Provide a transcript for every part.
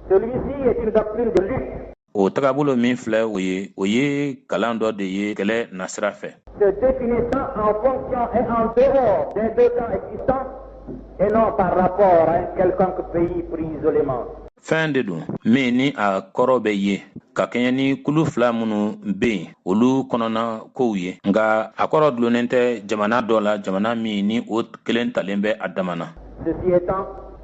Celui-ci est une doctrine de lutte. O tagabolo min filɛ o ye o ye kalan dɔ de ye kɛlɛ nasira fɛ. Se définissant en fonction et en dehors des deux camps existants et non par rapport à un quelconque pays pris isolément. Fɛn de don min ni a kɔrɔ bɛ ye ka kɛɲɛ ni kulu fila minnu bɛ yen olu kɔnɔna kow ye nka a kɔrɔ dulonnen tɛ jamana dɔ la jamana min ni o kelen talen bɛ a dama na. Ceci étant,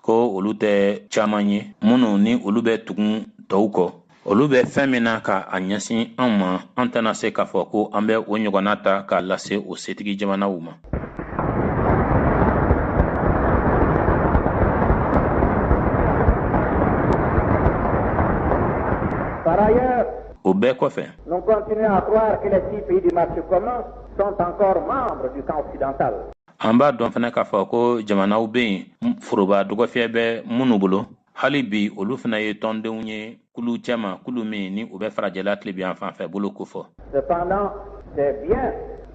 ko olu tɛ caman ye minnu ni olu bɛ tugun tɔw kɔ olu bɛ fɛn min na ka a ɲɛsin an ma an tɛna se k'a fɔ ko an bɛ o ɲɔgɔnna ta k'a lase o setigi jamanaw ma. Par ailleurs, o bɛɛ kɔfɛ an b'a dɔn fana k'a fɔ ko jamanaw bɛ yen foroba dɔgɔfiyɛ bɛ minnu bolo hali bi olu fana ye tɔndenw ye kulu cɛma kulu min ni u bɛ farajɛla tilebiyan fan fɛ bolo kofɔ. Cependant, c'est bien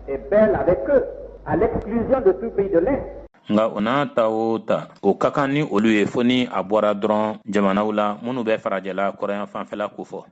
et bel avec eux, à l'exclusion de tout pays de l'Est. nka o n'a ta o ta o ka kan ni olu ye fo ni a bɔra dɔrɔn jamanaw la minnu bɛ farajɛla kɔrɔyan fanfɛla kofɔ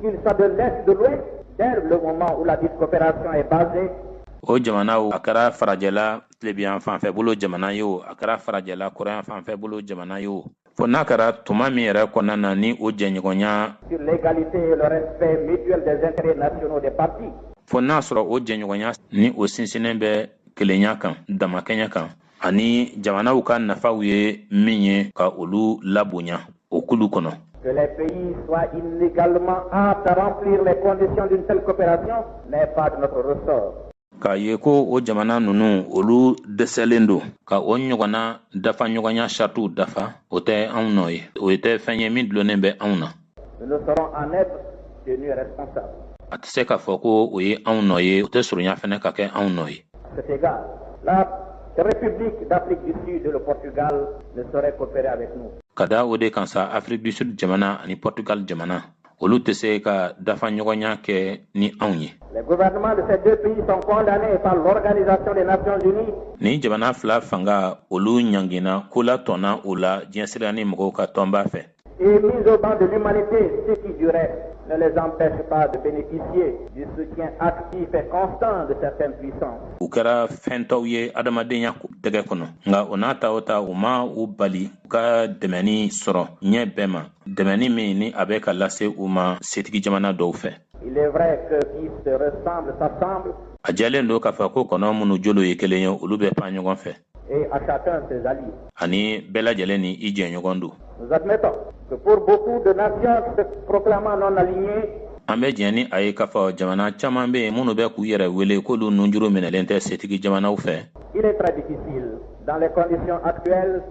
Qu'il soit de l'Est, de l'Ouest, dès le moment où ladite coopération est basée o jamana o a kɛra farajɛla tilebiyan fanfɛ bolo jamana ye o a kɛra farajɛla kɔrɔyan fanfɛ bolo jamana ye o fo n'a kɛra tuma min yɛrɛ kɔnɔna na ni o jɛɲɔgɔnya sur l'égalité et le respect mutuel des intérêts nationaux des parties. fo n'a sɔrɔ o jɛɲɔgɔnya ni o sinsinnen bɛ kelenya kan damakɛnya kan ani jamanaw ka nafaw ye min ye ka olu labonya o kulu kɔnɔ que les pays soient inégalement aptes à remplir les conditions d'une telle coopération n'est pas de notre ressort. k'a ye ko o jamana ninnu olu dɛsɛlen don ka o ɲɔgɔnna dafaɲɔgɔnya saratiw dafa o tɛ anw nɔ ye o tɛ fɛn ye min dulonnen bɛ anw na a tɛ se k'a fɔ ko o ye anw nɔ ye o tɛ surunya fana ka kɛ anw nɔ ye ka da o de kan sa afiriki du sud jamana ani portugal jamana olu tɛ se ka dafa ɲɔgɔnya kɛ ni anw ye nin jamana fila fanga olu ɲangina ko la tɔnna o la diɲɛsira ni mɔgɔw ka tɔnba fɛ Et mis au ban de l'humanité, ce qui du reste ne les empêche pas de bénéficier du soutien actif et constant de certaines puissances. u kɛra fɛntɔw ye adamadenya tɛgɛ kɔnɔ nka o n'a ta o ta o ma u bali u ka dɛmɛni sɔrɔ ɲɛ bɛɛ ma dɛmɛni min ni a bɛ ka lase u ma setigi jamana dɔw fɛ Il est vrai que qui se ressemble s'assemble. a jɛlen don k'a fɔ ko kɔnɔ minnu jolo ye kelen ye olu bɛ pan ɲɔgɔn fɛ et à chacun ses alliés. Ani bɛɛ lajɛlen ni i jɛɲɔgɔn don. Nous admettons que pour beaucoup de nations se proclamant non alignées, an bɛ diɲɛ ni a ye k'a fɔ jamana caman bɛ yen minnu bɛ k'u yɛrɛ wele k'olu nunjuru minɛlen tɛ setigi jamanaw fɛ. Il est très difficile dans les conditions actuelles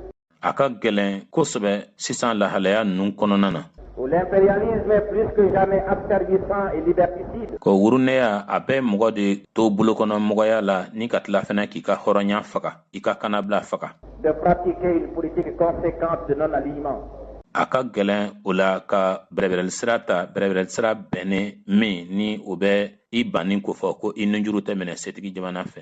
a ka gɛlɛn kosɛbɛ sisan lahalaya ninnu kɔnɔna na ko wurunɛya a bɛ mɔgɔ de to bolokɔnɔmɔgɔya la ni ka tila fana k'i ka hɔrɔnya faga i ka kanabila faga a ka gɛlɛn o la ka bɛrɛbɛrɛli sira ta bɛrɛbɛrɛli sira bɛnnen min ni o bɛ i banni kofɔ ko i nunjuru tɛ minɛ setigi jamana fɛ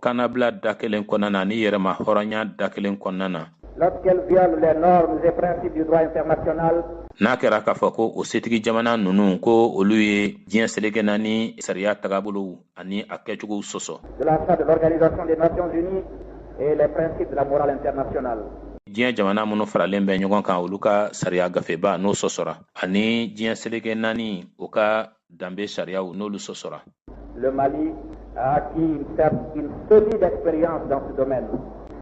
Kanabila da kelen kɔnɔna na ni yɛrɛma hɔrɔnya da kelen kɔnɔna na n'a kɛra k'a fɔ ko o setigi jamana ninnu ko olu ye diɲɛ seleke naani sariya tagabolo ani a kɛcogo sɔsɔ diɲɛ jamana minnu faralen bɛ ɲɔgɔn kan olu ka sariya gafeba n'o sɔsɔra ani diɲɛ seleke naani o ka danbe sariyaw n'olu sɔsɔra Le Mali a acquis une cer- une solide expérience dans ce domaine.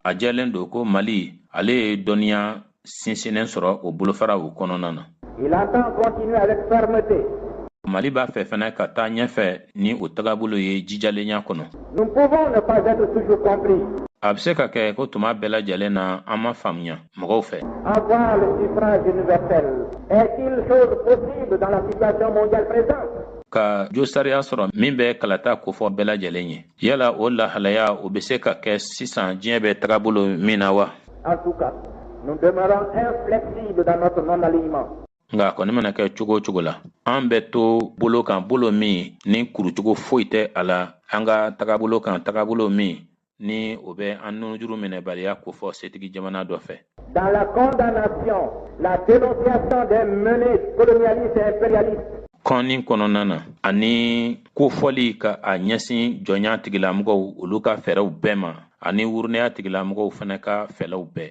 a jɛlen don ko mali ale ye dɔnniya sinsinnen sɔrɔ o bolofaraw kɔnɔna na Il entend continuer avec fermeté. mali b'a fɛ fɛnɛ ka taa ɲɛfɛ ni o tagabolo ye jijalenya kɔnɔ Nous pouvons ne pas être toujours compris. a bɛ se ka kɛ ko tuma bɛɛ lajɛlen na an ma faamuya mɔgɔw fɛ. Avoir le suffrage universel est-il chose possible dans la situation mondiale présente. ka jo sariya sɔrɔ min bɛ kalata kofɔ bɛɛ lajɛlen ye yala o lahalaya o bɛ se ka kɛ sisan diɲɛ bɛ tagabolo min na wa en tout cas nous demeurons inflexibles dans notre non alignement nka a kɔni mana kɛ cogo o cogo la an bɛ to bolo kan bolo min ni kurucogo foyi tɛ a la an ka tagabolo kan tagabolo min ni o bɛ an nunjuru minɛbaliya kofɔ setigi jamana dɔ fɛ dans la condamnation la dénonciation des menées colonialistes et impérialistes kɔnni kɔnɔna na ani kofɔli ka a ɲɛsin jɔnya tigilamɔgɔw olu ka fɛɛrɛw bɛɛ ma ani wurunɛya tigilamɔgɔw fana ka fɛɛrɛw bɛɛ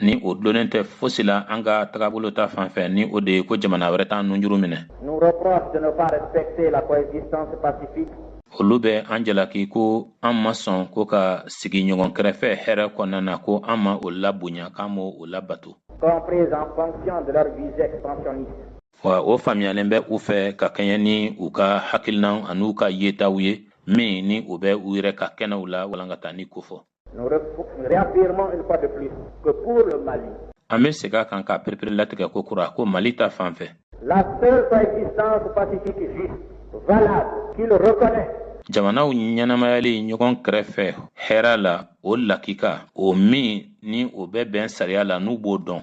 ni o dulonnen tɛ fosi la an ka tagabolo ta fan fɛ ni o de ye ko jamana wɛrɛ t'an nunjuru minɛ nous reprochent de ne pas respecter la coexistence pacifique olu bɛ an jalaki ko an ma sɔn ko ka sigi ɲɔgɔn kɛrɛfɛ hɛrɛ kɔnɔna na ko an ma o labonya k'an m'o labato comprise en fonction de leurs visées expansionnistes wa o faamuyalen bɛ u fɛ ka kɛɲɛ ni u ka hakilinaw an'u ka yetaw ye min ni o bɛ u yɛrɛ ka kɛnɛw la walankatani kofɔ Nous réaffirmons une fois de plus que pour le Mali, an bɛ segin a kan k'a pereperelatigɛ ko kura ko mali ta fan fɛ La seule coexistence pacifique juste, valable, qu'il reconnaît jamanaw ɲɛnamayali ɲɔgɔn kɛrɛfɛ hɛra la o lakika o min ni o bɛ bɛn sariya la n'u b'o dɔn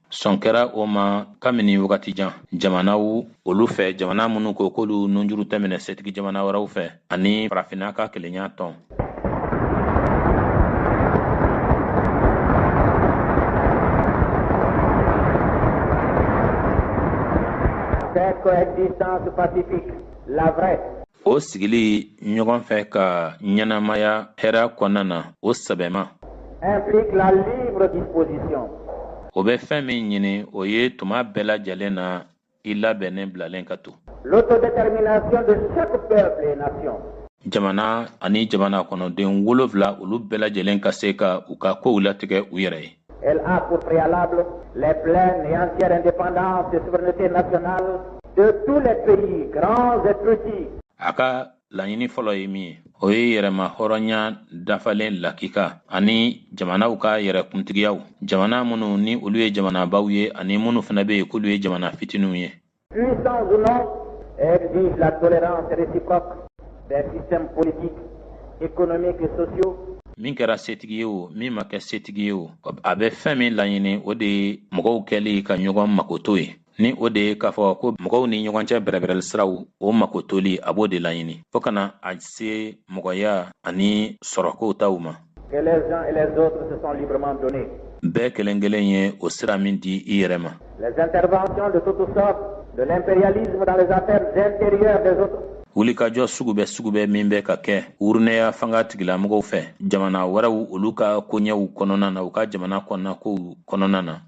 sɔn kɛra o ma kabini wagati jan jamanaw olu fɛ jamana minnu ko k'olu nunjuru tɛ minɛ setigi jamana wɛrɛw fɛ ani farafinna ka kelenya tɔn Cette coexistence pacifique, la vraie. o sigili ɲɔgɔn fɛ ka ɲɛnamaya hɛra kɔnɔna na o sɛbɛma o bɛ fɛn min ɲini o ye tuma bɛɛ lajɛlen na i labɛnnen bilalen ka to jamana ani jamana kɔnɔdenw olu fila olu bɛɛ lajɛlen ka se ka u ka kow latigɛ u yɛrɛ ye Elle a pour préalable les pleines et entières indépendances et souveraineté nationale de tous les pays, grands et petits. A ka laɲini fɔlɔ ye min ye, o ye yɛrɛmahɔrɔnya dafalen lakika ani jamanaw ka yɛrɛkuntigiyaw, jamana minnu ni olu ye jamanabaw ye ani minnu fana bɛ yen k'olu ye jamana fitininw ye. Puissants ou non, exige la tolérance réciproque des systèmes politiques, économiques et sociaux min kɛra setigi ye o min ma kɛ setigi ye o a bɛ fɛn min laɲini o de ye mɔgɔw kɛli ka ɲɔgɔn makoto ye ni o de ye k'a fɔ ko mɔgɔw ni ɲɔgɔn cɛ bɛrɛbɛrɛli siraw o makotoli a b'o de laɲini fo ka na a se mɔgɔya ani sɔrɔkow taw ma bɛɛ kelen kelen ye o sira min di i yɛrɛ ma wulikajɔ sugu bɛɛ sugu bɛɛ min bɛ ka kɛ wurunɛya fanga tigilamɔgɔw fɛ jamana wɛrɛw olu ka koɲɛw kɔnɔna na u ka jamana kɔnɔnakow kɔnɔna na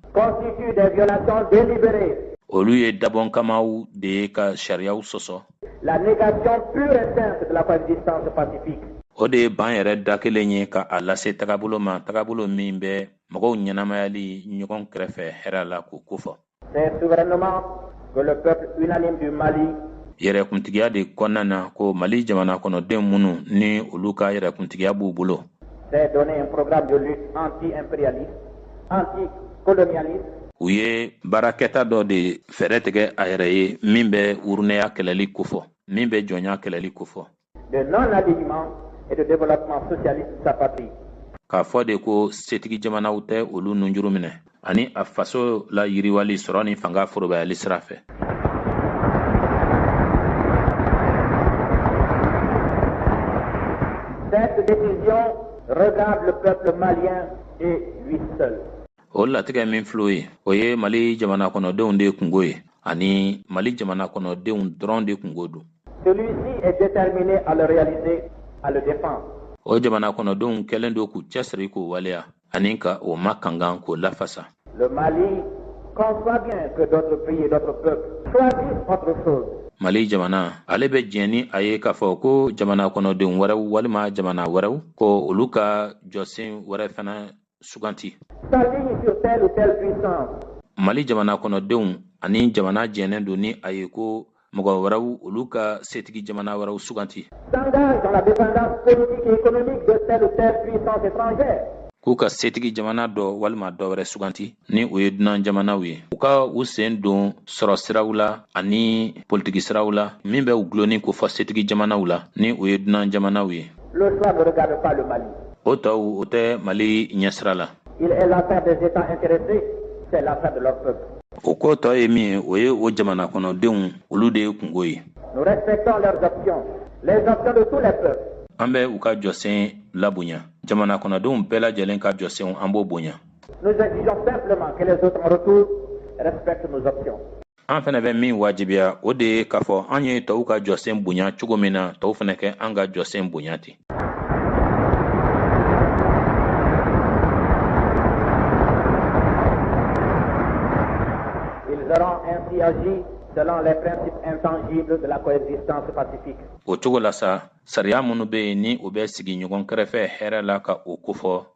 olu ye dabɔnkamaw de ye ka sariyaw sɔsɔ La négation pure et simple de la coexistence pacifique. O de ye ban yɛrɛ da kelen ye ka a lase tagabolo ma tagabolo min bɛ mɔgɔw ɲɛnamayali ɲɔgɔn kɛrɛfɛ hɛra la k'o kofɔ. C'est souverainement que le peuple unanime du Mali yɛrɛkuntigiya de kɔnɔna na ko mali jamana kɔnɔdenw minnu ni olu ka yɛrɛkuntigiya b'u bolo s'est donné un programme de lutte anti-impérialiste u ye baarakɛta dɔ de fɛɛrɛ tigɛ a yɛrɛ ye min bɛ wurunɛya kɛlɛli kofɔ min bɛ jɔnya kɛlɛli kofɔ k'a fɔ de ko setigi jamanaw tɛ olu nunjuru minɛ ani a faso layiriwali sɔrɔ ni fanga forobayali sira fɛ Cette décision regarde le peuple malien o latigɛ min fil'o ye o ye mali jamana kɔnɔdenw de kungo ye ani mali jamana kɔnɔdenw dɔrɔn de kungo don o jamana kɔnɔdenw kɛlen don k'u cɛsiri k'o waleya ani ka o makankan k'o lafasa mali jamana ale bɛ diɲɛ ni a ye k'a fɔ ko jamana kɔnɔdenw wɛrɛw walima jamana wɛrɛw ko olu ka jɔsen wɛrɛ fana suganti mali jamana kɔnɔdenw ani jamana jɛnnen don ni a ye ko mɔgɔ wɛrɛw olu ka setigi jamana wɛrɛw suganti k'u ka setigi jamana dɔ walima dɔ wɛrɛ suganti ni o ye dunan jamanaw ye u ka u sen don sɔrɔ siraw la ani politiki siraw la min bɛ u gulonni kofɔ setigi jamanaw la ni o ye dunan jamanaw ye Le choix ne regarde pas le Mali. O tɔw o tɛ Mali ɲɛsira la. Il est l'affaire des États intéressés, c'est l'affaire de leur peuple. O ko tɔ ye min ye, o ye o jamana kɔnɔdenw olu de kungo ye. Nous respectons leurs options, les options de tous les peuples. An bɛ u ka jɔsen labonya. Jamana kɔnɔdenw bɛɛ lajɛlen ka jɔsenw, an b'o bonya. Nous exigeons simplement que les autres en retour respectent nos options. an fɛnɛ bɛ min wajibiya o de ye k'a fɔ an ye tɔw ka jɔsen bonya cogo min na tɔw fɛnɛ ka an ka jɔsen bonya ten selon les principes intangibles de la coexistence pacifique. O cogo la sa, sariya minnu bɛ yen ni u bɛ sigi ɲɔgɔn kɛrɛfɛ hɛrɛ la ka o kofɔ,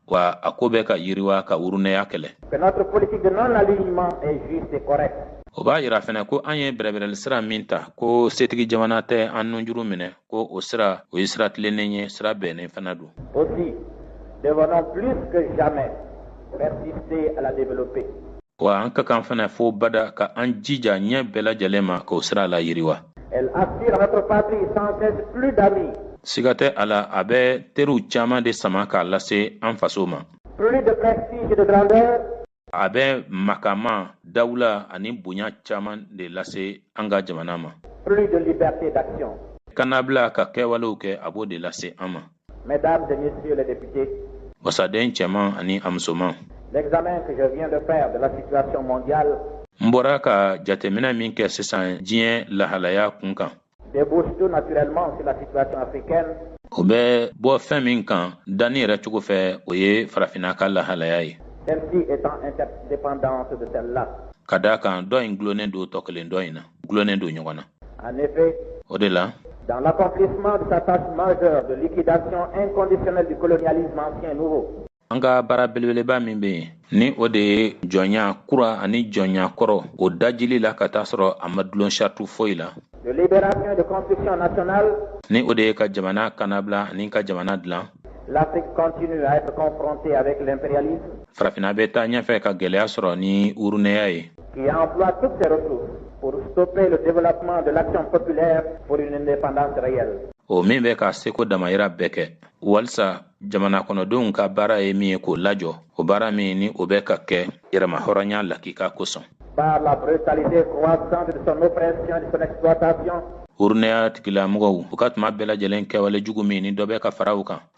wa a ko bɛ ka yiriwa ka wurunɛya kɛlɛ o b'a yira fɛnɛ ko an ye bɛrɛbɛrɛli sira min ta ko setigi jamana tɛ an nunjuru minɛ ko o sira o ye sira tilennen ye sira bɛnnen fana don wa an ka kan fana fo bada ka an jija ɲɛ bɛɛ lajɛlen ma k'o sira layiriwa siga tɛ a la a bɛ teriw caman de sama k'a lase an faso ma a bɛ makama dawula ani bonya caman de lase an ka jamana ma kannabila ka kɛwalew kɛ a b'o de lase an ma Mesdames et messieurs les députés. Wasaden cɛman ani a musoman. L'examen que je viens de faire de la situation mondiale. N bɔra ka jateminɛ min kɛ sisan diɲɛ lahalaya kun kan. Débouche tout naturellement sur la situation africaine. O bɛ bɔ fɛn min kan danni yɛrɛ cogo fɛ o ye farafinna ka lahalaya ye. Celle-ci étant interdépendante de celle-là. Ka d'a kan dɔ in dulonnen don tɔ kelen dɔ in na. dulonnen don ɲɔgɔn na En effet, o de la Dans l'accomplissement de sa tâche majeure de liquidation inconditionnelle du colonialisme ancien et nouveau, an ka baara belebeleba min bɛ yen ni o de ye jɔnya kura ani jɔnya kɔrɔ o dajili la ka t'a sɔrɔ a ma dulon sariti foyi la de libération et de construction nationale, ni o de ye ka jamana kanabila ani ka jamana dilan l'Afrique continue à être confrontée avec l'impérialisme farafinna bɛ taa ɲɛfɛ ka gɛlɛya sɔrɔ ni urunɛya ye qui emploie toutes ses ressources pour stopper le développement de l'action populaire pour une indépendance réelle. o min bɛ k'a seko damayira bɛɛ kɛ walisa jamana kɔnɔdenw ka baara ye min ye k'o lajɔ o baara min ni o bɛ ka kɛ yɛrɛmahɔrɔnya lakika kosɔn par la brutalité croissante de son oppression et de son exploitation urunɛya tigilamɔgɔw u ka tuma bɛɛ lajɛlen kɛwale jugu min ni dɔ bɛ ka fara u kan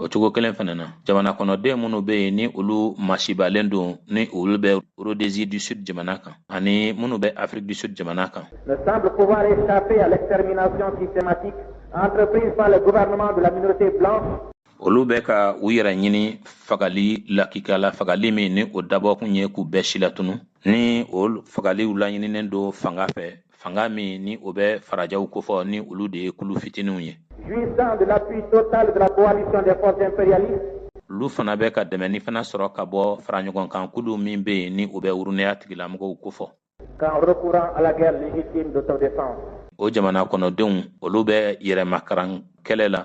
o cogo kelen fana na jamana kɔnɔden minnu bɛ yen ni olu masibalen don ni olu bɛ Rhodésie du Sud jamana kan ani minnu bɛ Afrique du Sud jamana kan ne semblent pouvoir échapper à l'extermination systématique entreprise par le gouvernement de la minorité blanche olu bɛ ka u yɛrɛ ɲini fagali lakika la fagali min ni o dabɔkun ye k'u bɛɛ silatunu ni o fagaliw laɲininen don fanga fɛ fanga min ni o bɛ farajɛw kofɔ ni olu de ye kulu fitininw ye olu fana bɛ ka dɛmɛni fana sɔrɔ ka bɔ faraɲɔgɔnkan kulu min bɛ yen ni o bɛ urunɛya tigilamɔgɔw kofɔ o jamana kɔnɔdenw olu bɛ yɛrɛmakaran kɛlɛ la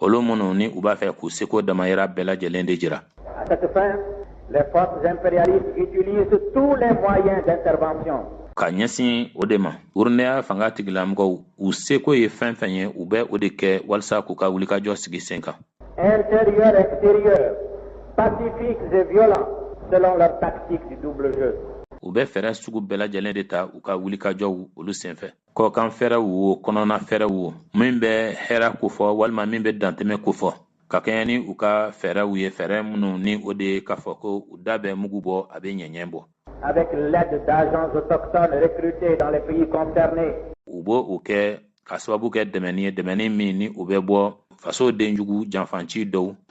olu minnu ni u b'a fɛ k'u seko damayira bɛɛ lajɛlen de jira à cette fin les forces impérialistes utilisent tous les moyens d'intervention ka ɲɛsin o de ma urunɛya fanga tigilamɔgɔw u seko ye fɛn fɛn ye u bɛ o de kɛ walisa k'u ka wulikajɔ sigi sen kan intérieurs extérieurs pacifiques et violents selon leur tactique du double jeu u bɛ fɛɛrɛ sugu bɛɛ lajɛlen de ta u ka wulikajɔw olu senfɛ kɔkan fɛɛrɛw wo kɔnɔna fɛɛrɛw wo min bɛ hɛra kofɔ walima min bɛ dantɛmɛ kofɔ ka kɛɲɛ ni u ka fɛɛrɛw ye fɛɛrɛ minnu ni o de ye k'a fɔ ko u da bɛ mugu bɔ a bɛ ɲɛɲɛ bɔ avec l'aide d'agents autochtones recrutés dans les pays concernés u b'o kɛ ka sababu kɛ dɛmɛni ye dɛmɛni min ni o bɛ bɔ faso denjugu janfanci dɔw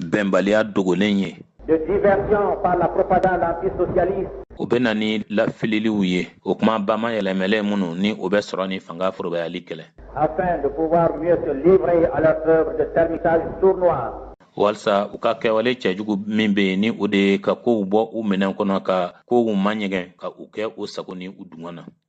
bɛnbaliya dogolen ye o bɛ na ni lafililiw ye o kuma bama yɛlɛmɛlɛ minnu ni o bɛ sɔrɔ ni fanga forobayali kɛlɛ walisa u ka kɛwale cɛjugu min bɛ yen ni o de ye ka kow bɔ u minɛn kɔnɔ ka kow ma ɲɛgɛn ka u kɛ u sago ni u dungɔ na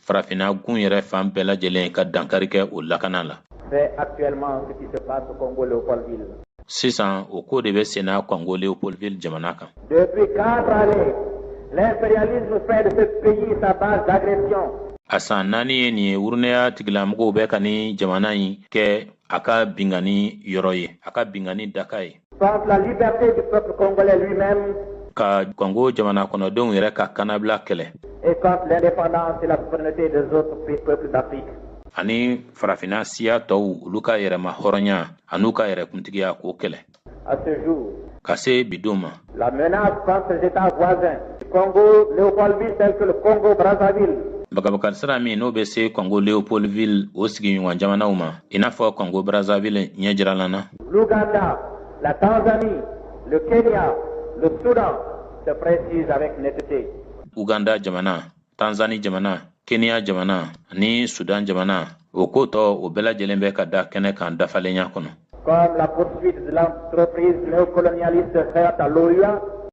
farafinna gun yɛrɛ fan bɛɛ lajɛlen ka dankari kɛ o lakana la sisan o ko de bɛ senna kɔngo leopoldville jamana kan a san naani ye nin ye wurunɛya tigilamɔgɔw bɛ ka ni jamana in kɛ a ka bingani yɔrɔ ye a ka bingani daka ye Contre la liberté du peuple congolais lui-même. Ka Congo jamana kɔnɔdenw yɛrɛ ka kanabila kɛlɛ. Et contre l'indépendance et la souveraineté des autres peuples d'Afrique. Ani farafinna siya tɔw olu ka yɛrɛma hɔrɔnya an'u ka yɛrɛ kuntigiya k'o kɛlɛ. À ce jour. Ka se bi don ma. La menace contre les états voisins du Congo Léopoldville tels que le Congo Brazzaville. Bagabakari sira min n'o bɛ se Congo Léopoldville o sigiɲɔgɔn jamanaw ma, i n'a fɔ Congo Brazzaville ɲɛjiralan na. L'Ouganda, la Tanzanie, le Kenya, le Soudan se précise avec netteté. Ouganda jamana, Tanzanie jamana, Kenya jamana ni Soudan jamana o ko tɔ o bɛɛ lajɛlen bɛ ka da kɛnɛ kan dafalenya kɔnɔ. Comme la poursuite de l'entreprise néocolonialiste faite à l'OUA,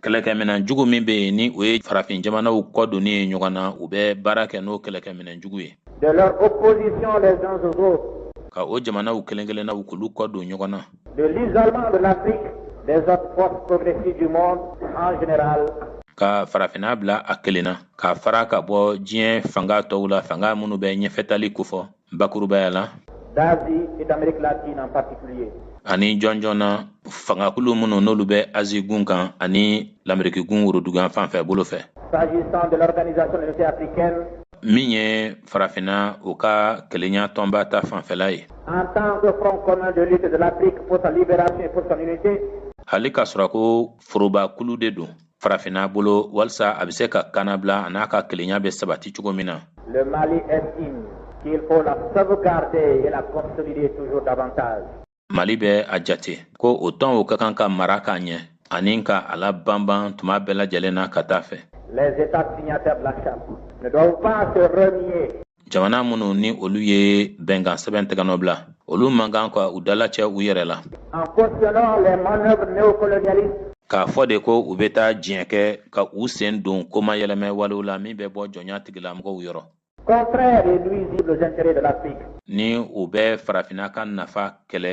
kɛlɛkɛminɛn jugu min bɛ yen ni o ye farafin jamanaw kɔ donni ye ɲɔgɔn na u bɛ baara kɛ n'o kɛlɛkɛminɛn jugu ye ka o jamanaw kelen kelen na u k'olu kɔ don ɲɔgɔn na ka farafinna bila a kelen na ka fara ka bɔ diɲɛ fanga tɔw la fanga minnu bɛ ɲɛfɛtali kofɔ bakurubaya la d'asie et d'amérique latine en particulier ani jɔnjɔn na fangakulu minnu n'olu bɛ azi gun kan ani lameriki gun worodugu yanfan fɛ bolo fɛ s'agissant de l'organisation de l'unité africaine min ye farafinna u ka kelenya tɔnba ta fanfɛla ye en tant que front commun de lutte de l'afrique pour sa libération et pour son unité hali k'a sɔrɔ ko forobakulu de don farafinna bolo walisa a bɛ se ka kanabila an'a ka kelenya bɛ sabati cogo min na Le Mali estime qu'il faut la sauvegarder et la consolider toujours davantage. Mali bɛ a jate ko o tɔn o ka kan ka mara k'a ɲɛ ani ka a labanban tuma bɛɛ lajɛlen na ka t'a fɛ. Les États signataires de la charte ne doivent pas se renier jamana minnu ni olu ye bɛnkan sɛbɛn tɛgɛnɔbila olu man kan ka u dalacɛ u yɛrɛ la k'a fɔ de ko u bɛ taa diɲɛ kɛ ka u sen don koma yɛlɛmɛ walew la min bɛ bɔ jɔnya tigilamɔgɔw yɔrɔ ni u bɛ farafinna ka nafa kɛlɛ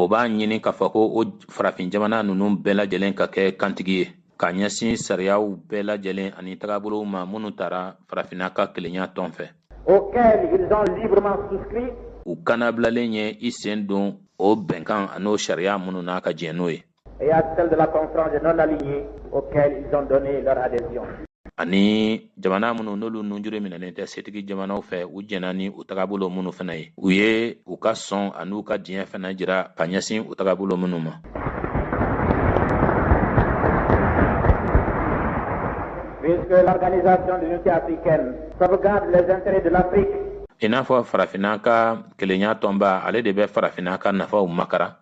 o b'a ɲini k'a fɔ ko o farafin jamana ninnu bɛɛ lajɛlen ka kɛ kantigi ye ka ɲɛsin sariyaw bɛɛ lajɛlen ani tagabolow ma minnu tara farafinna ka kelenya tɔn fɛ auxquels ils ont librement souscrit u kannabilalen ye i sen don o bɛnkan an'o sariya minnu n'a ka diɲɛ n'o ye et à celle de la conférence des non-alignés auxquels ils ont donné leur adhésion. ani jamana minnu n'olu nunjuru minɛnen tɛ setigi jamanaw fɛ u jɛnna ni u tagabolo minnu fana ye u ye u ka sɔn an'u ka diɲɛ fana jira ka ɲɛsin u tagabolo minnu ma Puisque l'organisation de l'unité africaine sauvegarde les intérêts de l'Afrique i n'a fɔ farafinna ka kelenya tɔnba ale de bɛ farafinna ka nafaw makaran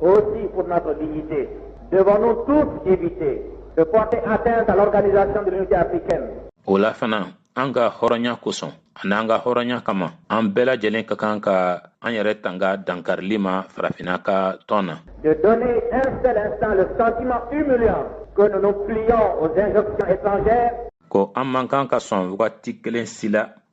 Aussi pour notre dignité, devons-nous tous éviter de porter atteinte à l'organisation de l'unité africaine. O la fana, an ka hɔrɔnya kosɔn ani an ka hɔrɔnya kama, an bɛɛ lajɛlen ka kan ka an yɛrɛ tanga dankarili ma farafinna ka tɔn na. De donner un seul instant le sentiment humiliant que nous nous plions aux injonctions étrangères. Ko an man kan ka sɔn wagati kelen si la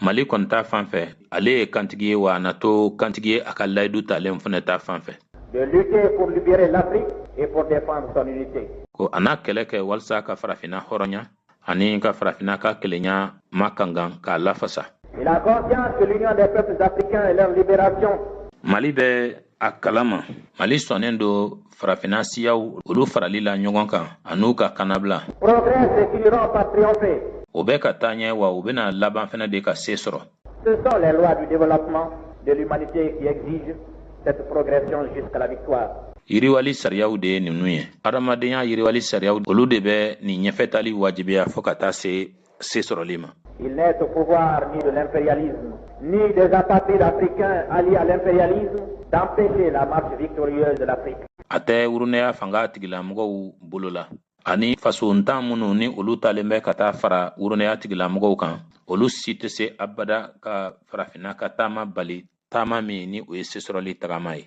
mali kɔni ta fan fɛ ale ye kantigi ye wa a na to kantigi ye a ka layidu talen fana ta fan fɛ ko a n'a kɛlɛ kɛ walisa ka farafinna hɔrɔnya ani ka farafinna ka kelenya ma kankan k'a lafasa mali bɛ a kalama mali sɔnnen don farafinna siyaw olu farali la ɲɔgɔn kan an'u ka kannabila progressent et finiront par triompher o bɛ ka taa ɲɛ wa u bɛna laban fana de ka se sɔrɔ Ce sont les lois du développement de l'humanité qui exigent cette progression jusqu'à la victoire. yiriwali sariyaw de ye ninnu ye adamadenya yiriwali sariyaw olu de bɛ nin ɲɛfɛtaali wajibiya fɔɔ ka taa se sesɔrɔli ma Il n'est au pouvoir ni de l'impérialisme, ni des apatrides africains alliés à l'impérialisme d'empêcher la marche victorieuse de l'Afrique. a tɛ wurunɛya fanga tigilamɔgɔw bolo la ani fasontan minnu ni olu taalen bɛ ka taa fara wurunɛya tigilamɔgɔw kan olu si tɛ se abada ka farafinna ka taama bali taama min ni o ye sesɔrɔli tagama ye